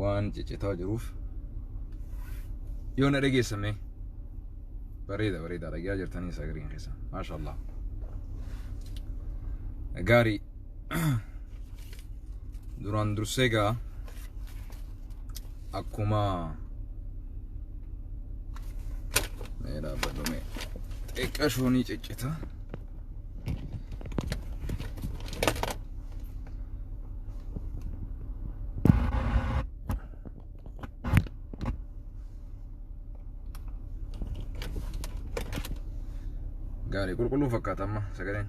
waan ciccitaa jiruuf yoo na dhageessame bareeda bareeda dhagaa jirtanii sagariin keessa maasha allah gaarii duraan dursee gaa akkuma mee dhaabbadhu mee xiqqashoonii ciccita Gaarii qulqulluu fakkaata amma sagaleen.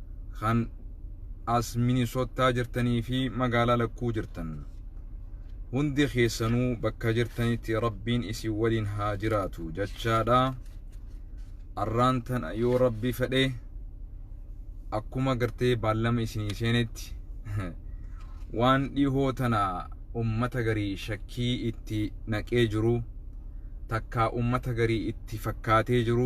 Kan as Minisottaa jirtanii fi magaalaa lakkuu jirtan hundi keessanuu bakka jirtanitti rabbiin isin waliin haa jiraatu jachaadha arraan tana yoo rabbi fedhe akkuma gartee baallama isinii seenetti waan dhihoo tana ummata garii shakkii itti naqee jiru takkaa ummata garii itti fakkaatee jiru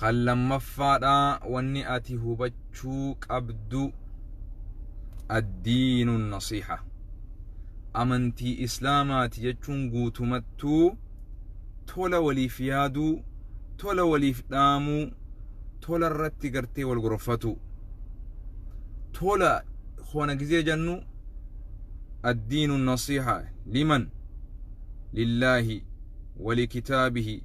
Kan lammaffaadhaa wanni ati hubachuu qabdu addiinu nasiixa. Amantii Islaamaati jechuun guutumattuu tola waliif yaaduu, tola waliif dhaamuu, tola irratti gartee wal gorfatuu. Tola hoona gizee jennu addiinu nasiixa liman lillaahi walikitaabihi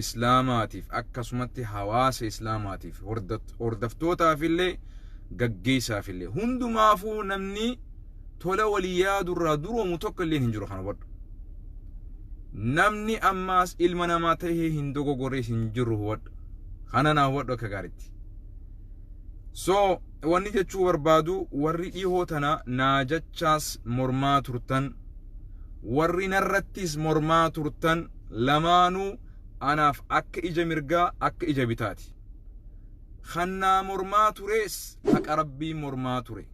Islaamaatiif akkasumatti hawaasa Islaamaatiif hordaftootaafillee gaggeessaafillee hundumaafuu namni tola walii yaadurraa duroomu tokko illee hin jiru kan hubadhu. Namni ammaas ilma namaa ta'ee hin dogogorrees hin jiru hubadhu. Kana naa hubadhu akka gaaritti. So wanni jechuu barbaadu warri dhihoo tana naa jachaas mormaa turtan warri narrattis mormaa turtan lamaanuu anaaf akka ija mirgaa akka ija bitaati. Kan naa mormaa turees haqa Rabbii mormaa ture.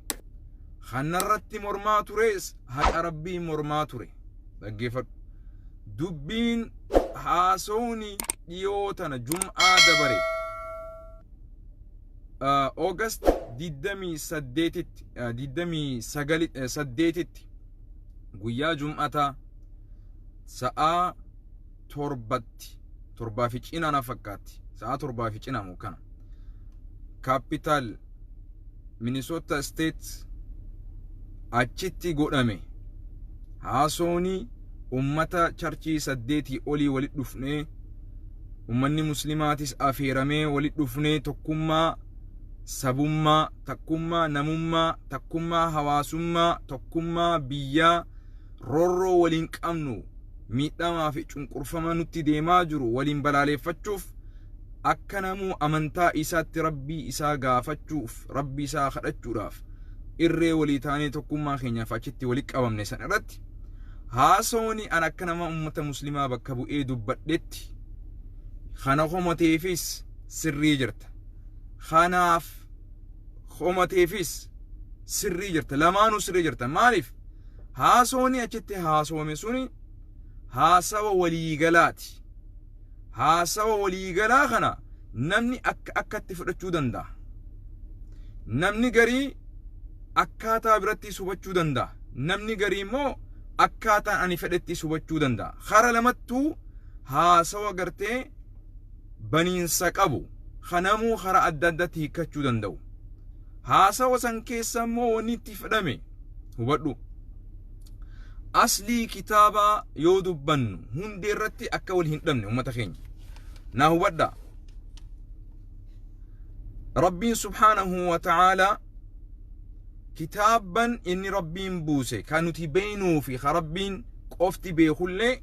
Kan narratti mormaa turees haqa Rabbii mormaa ture. Dhaggeeffadhu. Dubbiin haasawni dhiyoo tana jum'aa dabare August 28tti 28tti guyyaa jum'ataa sa'aa torbatti torbaa fi cinaa na fakkaatti sa'aa torbaa fi cinaa moo kana kaapitaal minisoota isteet achitti godhame haasooni ummata charchii saddeetii olii walitti dhufnee ummanni muslimaatis afeeramee walitti dhufnee tokkummaa sabummaa takkummaa namummaa, takkummaa hawaasummaa, tokkummaa biyyaa, roorroo waliin qabnu miidhamaa fi cunqurfama nutti deemaa jiru waliin balaaleeffachuuf akka namuu amantaa isaatti rabbii isaa gaafachuuf rabbii isaa kadhachuudhaaf irree walii taanee tokkummaa keenyaaf achitti walii qabamne san irratti haasawni an akka nama ummata muslimaa bakka bu'ee dubbadhetti kana homateefis sirrii jirta kanaaf homateefis sirrii jirta lamaanuu sirrii jirta maaliif haasooni achitti haasoome suni haasawa waliigalaati haasawa waliigalaa kana namni akka akkatti fudhachuu danda'a namni garii akkaataa birattis hubachuu danda'a namni garii immoo akkaataan ani fedhettis hubachuu danda'a kara lamattuu haasawa gartee baniinsa qabu ka namuu karaa adda addatti hiikkachuu danda'u. Haasawa san keessa immoo wanni itti fedhame hubadhu. Aslii kitaabaa yoo dubbannu hundee irratti akka wal hin dhabne ummata keenya. Naa hubadha. Rabbiin subhaanahu wa ta'aalaa kitaabban inni Rabbiin buuse kan nuti beeynuu fi ka Rabbiin qofti beekullee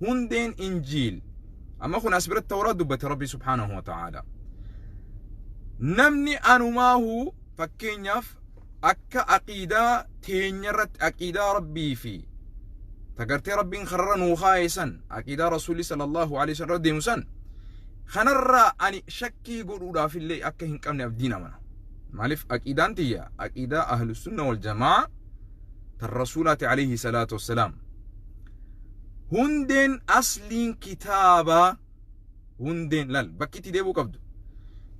hundeen injiil amma kun as biratti tawraat dubbate rabbii subhaanahu wa ta'aala namni anumaahu fakkeenyaaf akka aqiidaa teenya irratti aqiidaa rabbii fi tagartee rabbiin karra nuu kaa'e san aqiidaa rasuulli sallallahu alaihi wasallam irra deemu san kanarraa ani shakkii godhuudhaaf illee akka hin qabne abdiin amana maaliif aqiidaan tiyya aqiidaa ahlusunna wal jamaa tan rasuulaati alayhi salaatu wassalaam hundeen asliin kitaabaa hundeen lal bakki itti deebuu qabdu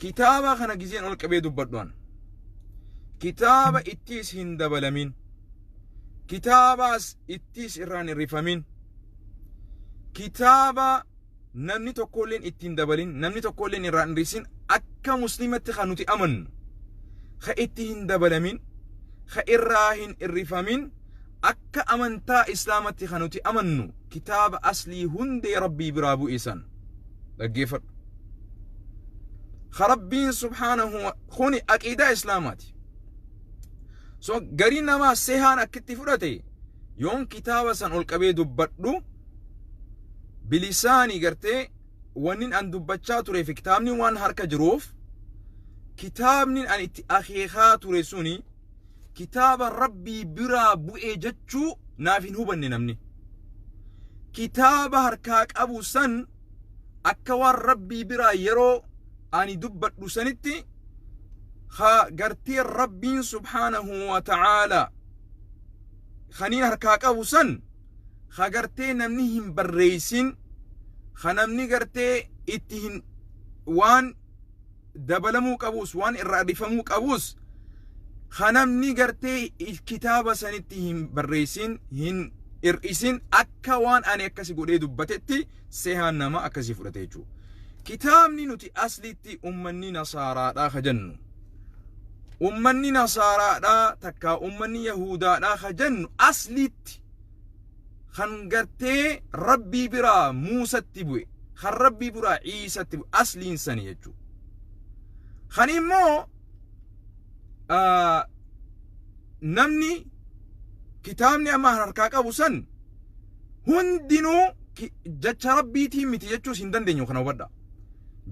kitaabaa kana gizeen ol qabee dubbadhu ana kitaaba ittiis hin dabalamin kitaabaas ittiis irraan hin rifamin kitaaba namni tokkoolleen itti hin dabalin namni tokkoolleen irraa hin dhiisin akka muslimatti kan nuti amannu ka itti hin dabalamin ka irraa hin irrifamin akka amantaa islaamatti kan nuti amannu kitaaba aslii hundee rabbii biraa bu'e san dhaggeeffadhu ka rabbiin subhaanahu wa- kuni aqiidaa islaamaati so garii namaa sehaan akkitti fudhate yoon kitaaba san ol qabee dubbadhu bilisaani gartee wannin an dubbachaa turee fi kitaabni waan harka jiruuf kitaabni an itti akeekaa ture suni kitaaba rabbii biraa bu'ee jechuu naaf hin hubanne namni kitaaba harkaa qabu san akka waan rabbii biraa yeroo ani dubbadhu sanitti ha gartee rabbiin subhaanahu wa ta'aala kaniin harkaa qabu san ha gartee namni hin barreeysin ha namni gartee itti hin waan dabalamuu qabuus waan irraa dhifamuu qabuus ha namni gartee kitaaba sanitti hin barreessin hin hir'isin akka waan ani akkasi godhee dubbatetti sehaan nama akkasii fudhate jechuudha. Kitaabni nuti asliitti ummanni nasaaraadhaa ka jennu ummanni nasaaraadhaa takkaa ummanni yahuudaadhaa ka jennu asliitti kan gartee rabbii biraa muusatti bu'e kan rabbii biraa ciisatti bu'e asliin sani jechuu kan immoo namni kitaabni amma harkaa qabu san hundinuu jecha rabbiitiin miti jechuus hin dandeenyu kana hubadhaa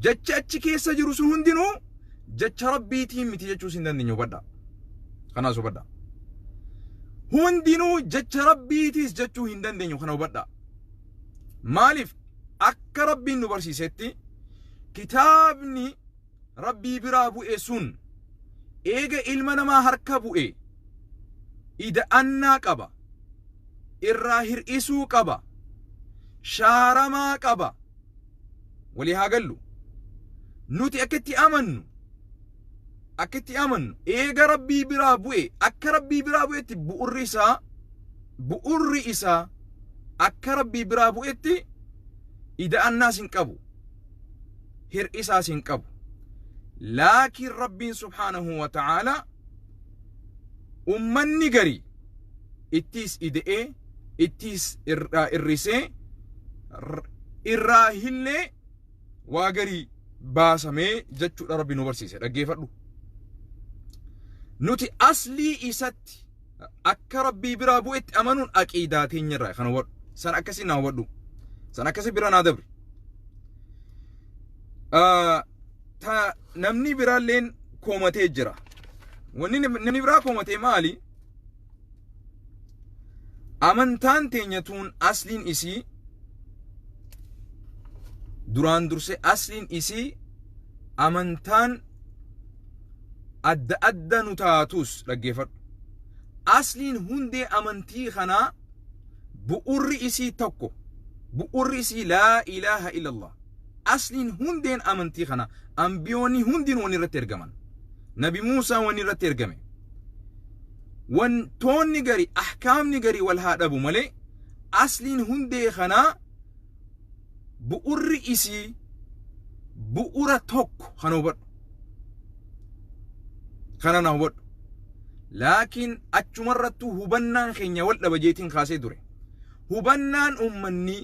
Jechi achi keessa jiru sun hundinuu jecha Rabbiitiin miti jechuus hin dandeenye hubadhaa. Kanaas hubadhaa. Hundinuu jecha Rabbiitiis jechuu hin dandeenyu kana hubadhaa. Maaliif akka Rabbiin nu barsiisetti kitaabni Rabbii biraa bu'e sun eega ilma namaa harka bu'e ida'annaa qaba. Irraa hir'isuu qaba. Shaaramaa qaba. walii haa gallu nuti akka itti amannu akka itti amannu eega rabbii biraa bu'e akka rabbii biraa bu'etti bu'urri isaa bu'urri isaa akka rabbii biraa bu'etti ida'annaas hin qabu hir'isaas hin qabu laakiin rabbiin subhaanahu wa ta'aalaa ummanni gari ittiis ide'ee ittiis irraa irrisee irraa hillee waa gari baasamee jechuudha rabbi nu barsiise dhaggeeffadhu nuti aslii isatti akka rabbii biraa bu'etti amanuun aqiidaa teenya irraa kan hubadhu san akkasii naa hubadhu san akkasii bira naa dabri ta namni biraalleen koomatee jira. Wanni nam- namni biraa koomatee maali? Amantaan teenya tuun asliin isii duraan durse asliin isii amantaan adda adda nu taatus dhaggeeffadhu. Asliin hundee amantii kanaa bu'urri isii tokko. Bu'urri isii laa ilaaha illallah. Asliin hundeen amantii kanaa, Anbiyoonni hundinuu wanni irratti ergaman, Nabi Muusaan wanni irratti ergame, wantoonni gari, ahkaamni gari wal haa dhabu malee, asliin hundee kanaa bu'urri isii bu'ura tokko kana hubadhu. Kana na hubadhu. Laakiin achumarrattuu hubannaan keenya wal dhaba jeetiin kaasee ture. Hubannaan ummanni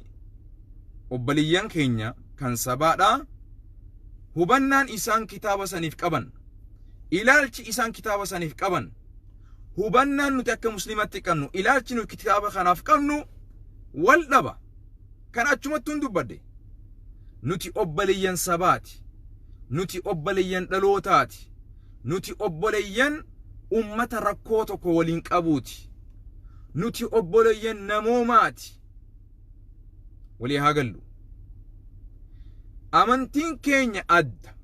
obboleeyyan keenya kan sabaadhaa hubannaan isaan kitaaba saniif qaban ilaalchi isaan kitaaba saniif qaban hubannaan nuti akka muslimatti qabnu ilaalchi nuti kitaaba kanaaf qabnu wal dhaba kan achumattuun dubbadde nuti obboleeyyan sabaati nuti obboleeyyan dhalootaati nuti obboleeyyan ummata rakkoo tokko waliin qabuuti nuti obboleeyyan namoomaati walii haa gallu amantiin keenya adda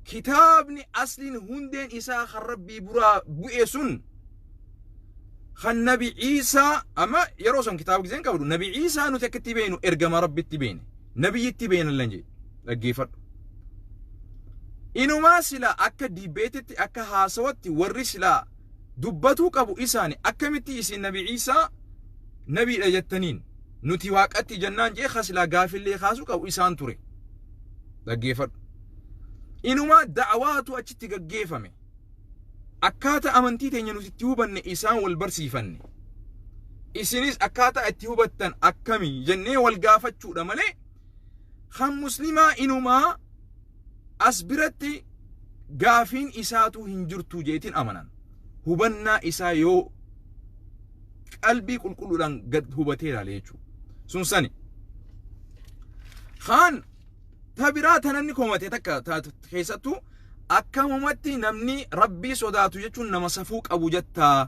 kitaabni asliin hundeen isaa kan rabbii buraa bu'e sun kan nabi ciisaa amma yeroo san kitaaba giseen qabdu nabi ciisaa nuti akka itti beenu ergama rabbitti beene nabiyyitti beenallan jedhe dhaggeeffadhu inumaa silaa akka diibeetitti akka haasawatti warri silaa dubbatuu qabu isaani akkamitti isin nabi Iisaa nabiidha jettaniin nuti waaqatti jennaan jee kasilaa gaafillee kaasu qabu isaan ture dhaggeefadhu inumaa da'awaatu achitti gaggeefame akkaata amantii teenya nuti itti hubanne isaan wal barsiifanne isinis akkaataa itti hubattan akkami jennee wal gaafachuudha malee kan muslimaa inumaa As biratti gaafiin isaatuu hin jirtuu jeetiin amanan. Hubannaa isaa yoo qalbii qulqulluudhaan gad hubatee ilaale jechuudha. Sun sani. Kaan ta biraa tananni komate takka ta- ta- keessattuu akkamumatti namni rabbii sodaatu jechuun nama safuu qabu jettaa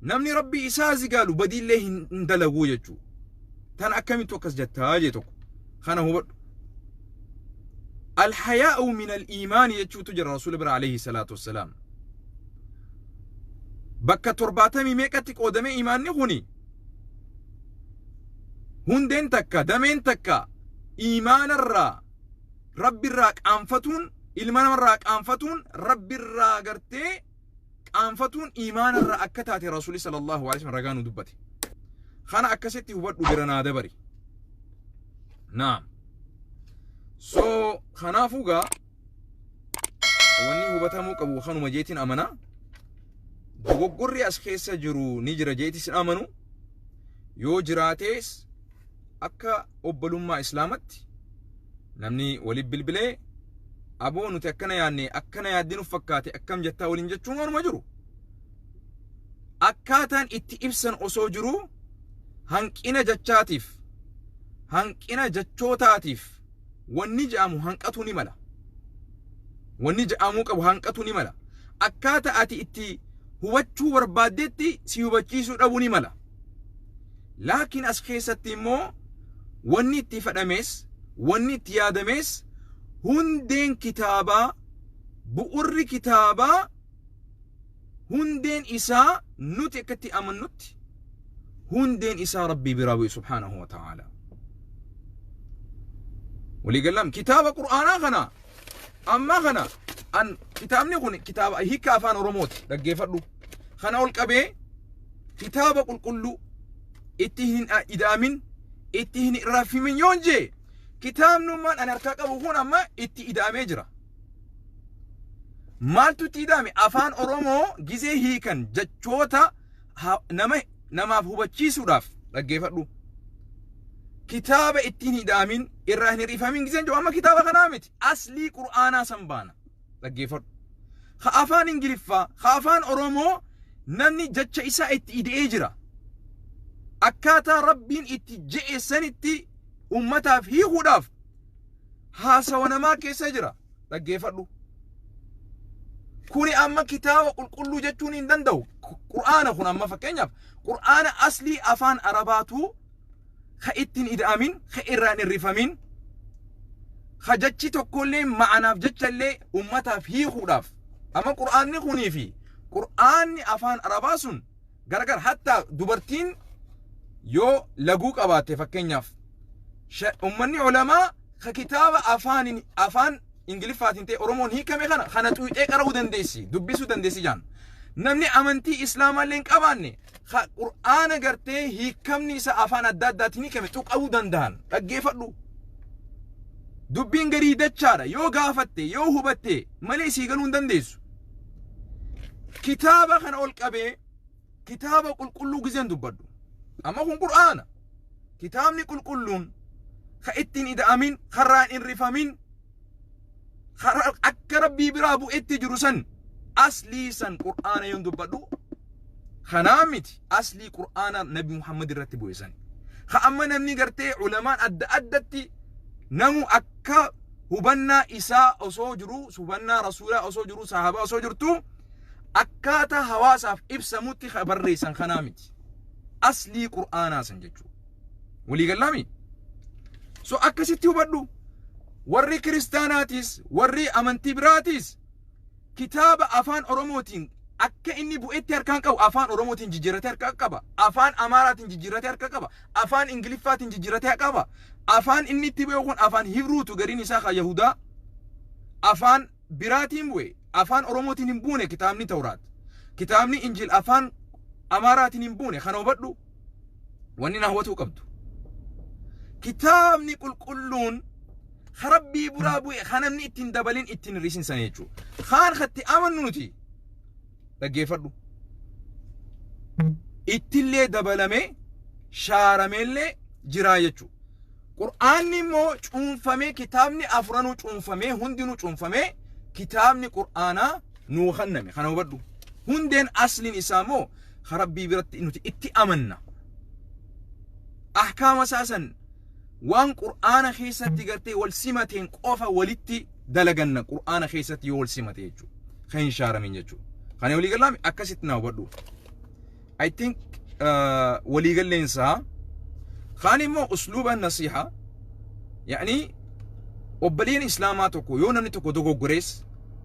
Namni Rabbii isaa zigaalu badiillee hin hin dalaguu jechuu. Tan akkamittu akkas jattaa jee tokko. Kana hubadhu. Alhayaa'u min al-iimaani jechuutu jira Rasuula bira alayhi salaatu wassalaam. Bakka torbaatamii meeqatti qoodamee imaanni kuni hundeen takka dameen takka imaanarraa rabbirraa qaanfatuun ilma namarraa qaanfatuun rabbirraa gartee qaanfatuun iimaana irraa akka taate rasuulli sallallahu alaihi wasallam ragaa nu dubbate kana akkasitti hubadhu bira naa dabari naam so kanaafuu gaa wanni hubatamuu qabu kanuma jeetiin amana dogoggorri as keessa jiru ni jira jeeti sin amanu yoo jiraatees akka obbolummaa islaamatti namni waliif bilbilee aboo nuti akkana yaadne akkana yaaddi nuuf fakkaate akkam jettaa waliin jechuun waanuma jiru. Akkaataan itti ibsan osoo jiruu hanqina jechaatiif hanqina jechootaatiif wanni jedhamu hanqatuu ni mala. Wanni jedhamuu qabu hanqatuu ni mala. Akkaataa ati itti hubachuu barbaaddetti si hubachiisuu dhabuu ni mala. Laakiin as keessatti immoo wanni itti ifadhamees, wanni itti yaadamees hundeen kitaabaa, bu'urri kitaabaa hundeen isaa nuti akka itti amannutti hundeen isaa Rabbii biraa bu'e subhaanahu wa ta'aala. Waliigallam kitaaba Qur'aanaa kana Ammaa kana an kitaabni kun kitaaba hiika afaan Oromooti dhaggeeffadhu. Kana ol qabee kitaaba qulqulluu itti hin ida'amin itti hin raffimin yoon jee kitaabnummaan an harkaa qabu kun amma itti ida'amee jira. Maaltu itti ida'ame? Afaan Oromoo gizee hiikan jechoota ha- nama namaaf hubachiisuudhaaf dhaggeeffadhu kitaaba ittiin hidhaamin irraa hin hir'ifamin giseen jiru amma kitaaba kanaa miti aslii qur'aanaa san baana dhaggeeffadhu ka afaan ingiliffaa ka afaan oromoo namni jecha isaa itti ida'ee jira akkaataa rabbiin itti je'e sanitti ummataaf hiikuudhaaf haasawa namaa keessa jira dhaggeeffadhu kuni amma kitaaba qulqulluu jechuun hin danda'u qur'aana kun amma fakkeenyaaf qur'aana aslii afaan arabaatu ka ittiin ida'amin ka irraan hirrifamin ka jechi tokkollee ma'anaaf jechallee ummataaf hiikuudhaaf amma qur'aanni kunii fi qur'aanni afaan arabaa sun Gargar hatta dubartiin yoo laguu qabaatte fakkeenyaaf ummanni olamaa ka kitaaba afaan afaan ingiliffaatiin ta'e oromoon hiikame kana kana xuuxee qara'uu dandeessi dubbisuu dandeessi jaan namni amantii islaamaallee hin qabaanne ka qur'aana gartee hiikamni isa afaan adda addaatiin hiikame tuqa'uu danda'an dhaggeeffadhu dubbiin garii dachaadha yoo gaafatte yoo hubatte malee sii galuu hin dandeessu kitaaba kana ol qabee kitaaba qulqulluu gizeen dubbadhu amma kun qur'aana kitaabni qulqulluun ka ittiin ida'amin karaan hin rifamin karaa akka rabbii biraa bu'etti jiru san aslii san qur'aana yoon dubbadhu kanaa miti aslii qur'aana nabi muhammad irratti bu'e san ka amma namni gartee ulamaan adda addatti namu akka akka hubannaa isaa osoo jiruu hubannaa rasuulaa osoo jiruu sahaabaa osoo jirtuu akkaataa hawaasaaf ibsamutti ka barreessan kanaa miti aslii qur'aanaa san jechuu walii gallaami so akkasitti hubadhu warri kiristaanaatiis warri amantii biraatiis Kitaaba Afaan Oromootiin akka inni bu'etti harkaan qabu Afaan Oromootiin jijjiirratee harkaa qaba. Afaan Amaaraatiin jijjiirratee harkaa qaba. Afaan Ingiliffaatiin jijjiirratee qaba. Afaan inni itti bu'e kun Afaan Hibruutu gariin isaa kan Yahudaa Afaan biraatiin bu'e. Afaan Oromootiin hin buune kitaabni Tawraat. Kitaabni Injiil Afaan Amaaraatiin hin buune kana hubadhu. wanni na hubatuu qabdu kitaabni qulqulluun ka rabbii buraa bu'e ka namni ittiin dabalin ittiin hir'isin sana jechuudha. Kaan katti amannu nuti dhaggeeffadhu. Ittillee dabalamee shaarameellee jiraa jechuudha. Qur'aanni immoo cuunfamee kitaabni afuranuu cuunfamee hundinuu cuunfamee kitaabni qur'aanaa nuu kenname kana hubadhu. Hundeen asliin isaa immoo ka rabbii biratti nuti itti amanna ahkaama isaa san waan qur'aana keessatti gartee wal simateen qofa walitti dalaganna qur'aana keessatti yoo wal simate jechuudha ka hin shaaramin jechuudha kana walii galaami akkasitti naa hubadhu I think uh, walii galleensaa kaan immoo usluuba nasiihaa yaani obboleen islaamaa tokko yoo namni tokko dogoggorees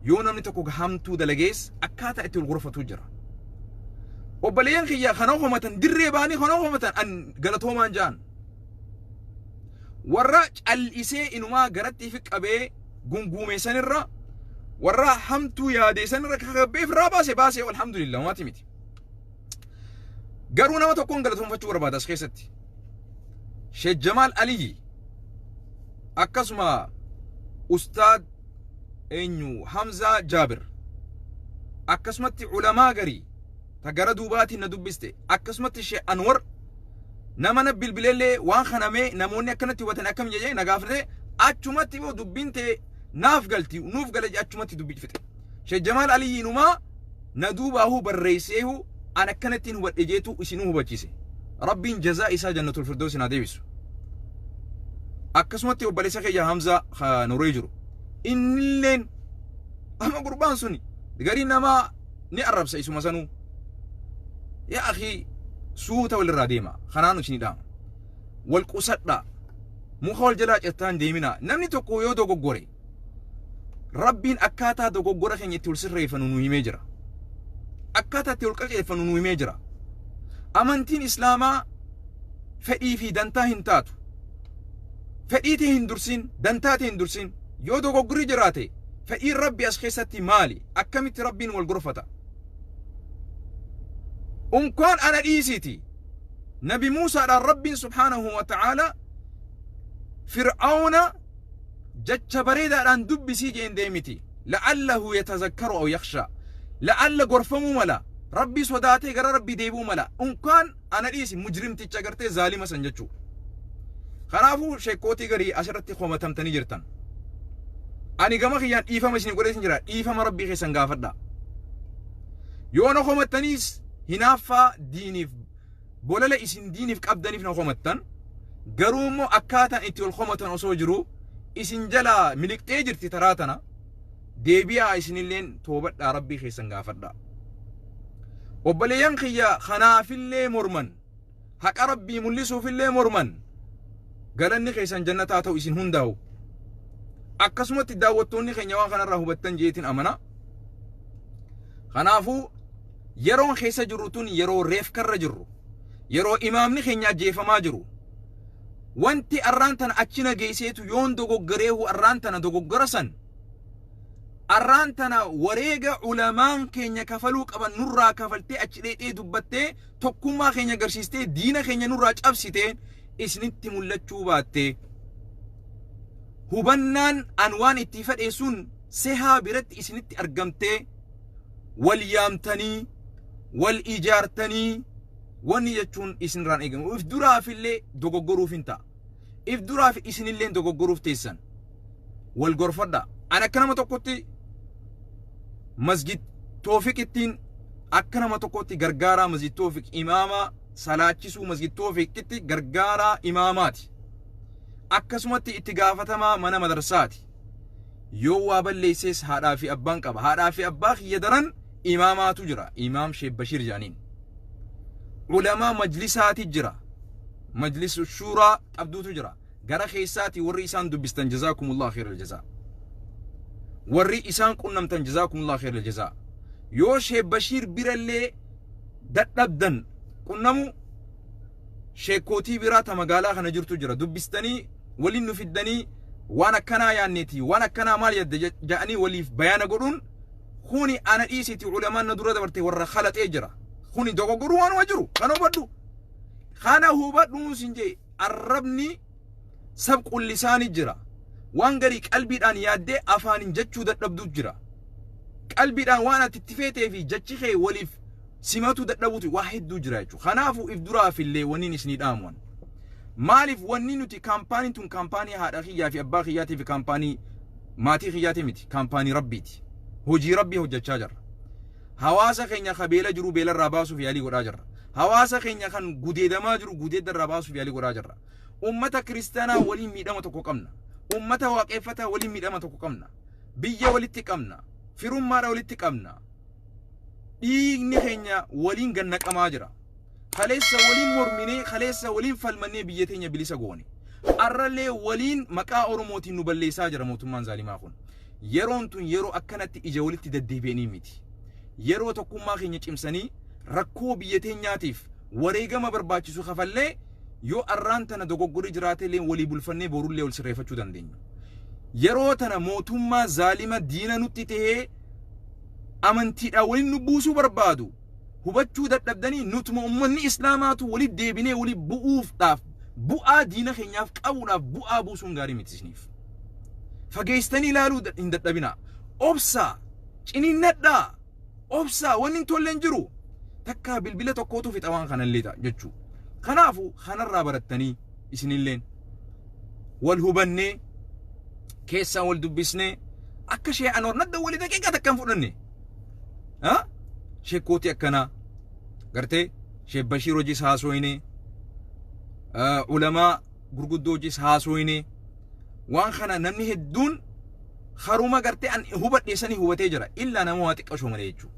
Yoo namni tokko hamtuu dalagees akkaataa itti wal gorfatu jira. Obboleeyyan kiyya kan of hamatan dirree bahanii kan of hamatan an galatoomaan ja'an. Warra cal'isee inumaa garatti fi qabee gunguumeessanirra warra hamtuu yaadeessanirra kakabbeef irraa baase baase alhamdulillah homaati miti. Garuu nama tokkoon galatoomfachuu barbaada as keessatti. Sheek Jamaal Aliyyi akkasuma Ustaad eenyu Hamzaa Jaabir akkasumatti ulamaa garii ta gara duubaatiin na dubbiste akkasumatti Sheek Anwar nama na bilbileellee waan kana mee namoonni akkanatti hubatan akkam jedhee na gaafate achumatti immoo dubbiin tee naaf galti nuuf gala jedhe achumatti dubbii fixe. Sheikh Jamaal Aliyyi inumaa na duubaahuu barreesseehuu an akkanattiin hubadhe jeetuu isinuu hubachise. Rabbiin jazaa isaa jannatul firdoosin haa deebisu. Akkasumatti obboleessa kiyya Hamzaa ka Norway jiru. Innilleen amma gurbaan suni garii namaa ni arrabsa isuma sanuu. Yaa akhi suuta walirraa deema kanaanu isinii dhaama. Wal qusadhaa muka wal jalaa cirtaan deeminaa namni tokko yoo dogoggore Rabbiin akkaataa dogoggora keenya itti ol sirreeffannu nu himee jira. Akkaataa itti ol qaceeffannu nu himee jira. Amantiin Islaamaa fedhii fi dantaa hin taatu. Fedhii tee hin dursin, dantaa tee hin dursin. Yoo dogoggorri jiraate fedhiin Rabbi as keessatti maali? Akkamitti Rabbiin wal gorfata? Unkaan ana dhiisiiti. Nabi Muusaadhaan Rabbiin subhaanahu wa ta'aala Fir'aawna Jecha bareedaadhaan dubbisii jeen deemiti. La'allahu yatazakkaru aw yakhshaa. La'alla gorfamuu mala. Rabbii sodaatee gara Rabbii deebi'uu mala. Unkaan ana dhiisi mujrimticha agartee zaalima san jechuu. Kanaafuu sheekkootii garii asirratti komatamtanii jirtan. Ani gama kiyyaan dhiifama isin godhee isin jira. Dhiifama Rabbii keessan gaafadha. Yoo na komattaniis hinaaffaa diiniif Bolala isin diinif qabdanif na komattan, garuu immoo akkaataan itti wal komatan osoo jiruu isin jalaa miliqxee jirti taraa tana deebi'aa isinilleen toobadhaa Rabbii keessan gaafadhaa. Obboleeyyan kiyya kanaafillee morman, haqa Rabbii mul'isuufillee morman galanni keessan jannataa ta'u isin hundaawu. Akkasumatti daawwattoonni keenya waan kanarraa hubattan jeetin amana. Kanaafuu Yeroon keessa jirru tun yeroo reefkarra jirru, yeroo imaamni keenya ajjeefamaa jiru. Wanti arraan tana achi na geesseetu yoon dogoggareehu arraan tana dogoggora san arraan tana wareega ulamaan keenya kafaluu qaban nurraa kafaltee achi dheexee dubbattee tokkummaa keenya garsiistee diina keenya nurraa cabsitee isinitti mul'achuu baattee hubannaan an waan itti fedheessuun sehaa biratti isinitti argamtee wal yaamtanii wal ijaartanii wanni jechuun isinirraan eegamu if duraafillee dogoggoruuf hin ta'a if duraaf isinillee dogoggoruuf teessan wal gorfadha an akka nama tokkotti masjid toofiq ittiin akka nama tokkotti gargaaraa masjid toofiq imaamaa salaachisuu masjid toofiqitti gargaaraa imaamaati akkasumatti itti gaafatamaa mana madarsaati Yoo waa balleessees haadhaa fi abbaan qaba. Haadhaa fi abbaa kiyya daran imaamaatu jira. Imaam Sheekh Bashiir jedhaniin. Ulamaa majlisaati jira. Majlis shuuraa qabduutu jira. Gara keessaati warri isaan dubbistan jazaakumullah khairal jazaa. Warri isaan qunnamtan jazaakumullah khairal jazaa. Yoo Sheekh Bashiir birallee dadhabdan qunnamu sheekkootii biraa ta magaalaa kana jirtu jira dubbistanii waliin nu fiddanii waan akkanaa yaanneeti waan akkanaa maal yadda ja- ja'anii waliif bayaana godhuun kuni ana dhiisiti ulamaan na dura dabarte warra kalaxee jira kuni dogoggoruu waanuma jiru kan hubadhu kana hubadhuun sin jee arrabni sab qullisaani jira waan garii qalbiidhaan yaaddee afaanin jechuu dadhabduu jira qalbiidhaan waan ati itti feetee fi jechi kee waliif simatuu dadhabuutu waa hedduu jira jechuudha kanaafuu if duraaf illee wanniin isinii dhaamuwan maaliif wanni nuti kaampaaniin tun kaampaanii haadha kiyyaa fi abbaa kiyyaatii fi kaampaanii maatii kiyyaatii miti kaampaanii rabbiiti hojii rabbii hojjechaa jirra Hawaasa keenya ka beela jiru beela irraa baasuuf yaalii godhaa jirra. Hawaasa keenya kan gudeedamaa jiru gudeedda irraa baasuuf yaalii godhaa jirra. Ummata kiristaanaa waliin miidhama tokko qabna. Ummata waaqeeffataa waliin miidhama tokko qabna. Biyya walitti qabna. Firummaadha walitti qabna. Dhiigni keenya waliin gad naqamaa jira. Kaleessa waliin morminee, kaleessa waliin falmannee biyya teenya bilisa goone. Arrallee waliin maqaa Oromootiin nu balleessaa jira mootummaan zaalimaa kun. Yeroon tun yeroo akkanatti ija walitti daddeebi'anii miti. Yeroo tokkummaa keenya cimsanii rakkoo biyya teenyaatiif wareegama barbaachisu kafallee yoo arraan tana dogoggorri jiraatellee walii bulfannee borullee wal sirreeffachuu dandeenyu. Yeroo tana mootummaa zaalima diina nutti tahee amantiidhaan waliin nu buusuu barbaadu. hubachuu dadhabdanii nutuma ummanni islaamaatu walitti deebinee wali bu'uufdhaaf bu'aa diina keenyaaf qabuudhaaf bu'aa buusuun gaarii miti isiniif. Fageessitanii ilaaluu da- hin dadhabinaa. Obsaa, ciniinnadhaa, obsaa, wanni hin tolle hin jiru. Takkaa bilbila tokkootu fixa waan kanallee ta'a jechuu. Kanaafu kanarraa barattanii isinilleen wal hubannee keessaan wal dubbisnee akka shee anoor nadda wali daqiiqaa takka hin fudhanne. ha shekkooti akkanaa gartee sheek bashiir hojiis haasoyne ulamaa gurguddoo hojiis haasoyne waan kana namni hedduun haruma gartee an hubadhe sanii hubatee jira illaa nama waa xiqqashoo malee jechuu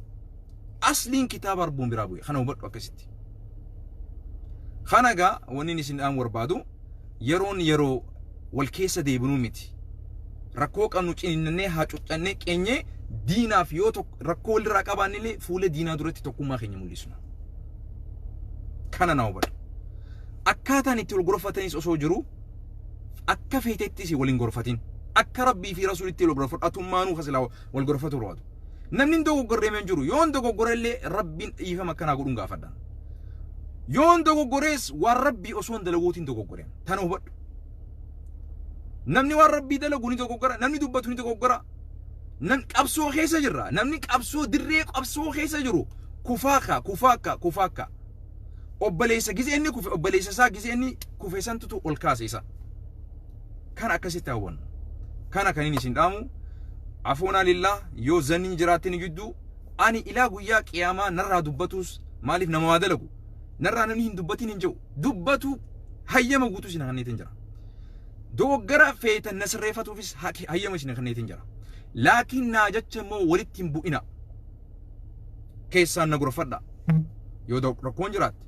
asliin kitaaba arbuun biraa bu'e kana hubadhu akkasitti kana gaa wanni isin dhaamu barbaadu Yeroon yeroo wal keessa deebinuu miti. Rakkoo qabnu ciniinnannee haacuuccannee qeenyee diinaaf yoo tokko rakkoo walirraa qabaannillee fuula diinaa duratti tokkummaa keenya mul'isna. Kana na hubadhu. Akkaataan itti wal gorfatanis osoo jiru akka feetettis wal hin gorfatin. Akka Rabbii fi Rasuulitti wal gorfadhu atummaanuu kasilaa wal gorfatu barbaadu. Namni hin dogoggorreeme hin jiru. Yoon dogoggore illee rabbiin dhiifama akkanaa godhuun gaafadha. Yoon dogoggorees waan rabbii osoo hin dalaguutiin dogoggore. Tana hubadhu. Namni waan rabbii dalagu ni dogoggora, namni dubbatu ni dogoggora. Nam qabsoo keessa jirra. Namni qabsoo dirree qabsoo keessa jiru kufaa kaa kufaa kaa kufaa kaa. Obboleessa gizee inni kufe obboleessa isaa gizee inni kufe santutu ol kaase isa. Kana akkasitti hawwannu. Kana kan inni isin dhaamu afoonaa lillaa yoo zanniin jiraattin jidduu ani ilaa guyyaa qiyaamaa narraa dubbatuus maaliif nama waa dalagu narraa namni hin dubbatin hin jedhu dubbatu hayyama guutuu isin hanneetiin jira. Dogoggara feetan na sirreeffatuufis hayyama isin hanneetiin jira. Laakiin naa jecha immoo walitti hin bu'ina. keessaan na gorfadha yoo da- rakkoon jiraatte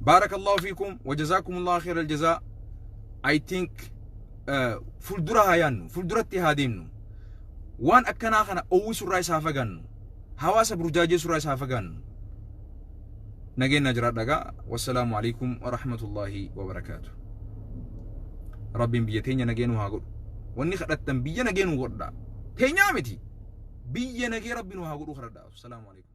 baarakallahu fiikum wajazaakumullahu khayra aljazaa i think eh, fuuldura haa yaannu fuulduratti haa deemnu waan akkanaa kana owwisurraa isaa fagaannu hawaasa burjaajeessurraa isaa fagaannu nageenyaa jiraadha gaa wassalaamu alaikum warahmatullaahi wabarakaatu rabbiin biyya teenya nagee nu haa godhu wanni kadhattan biyya nagee nu godha teenyaa miti biyya nagee rabbi nu haa godhu kadhadha wassalaamu alaikum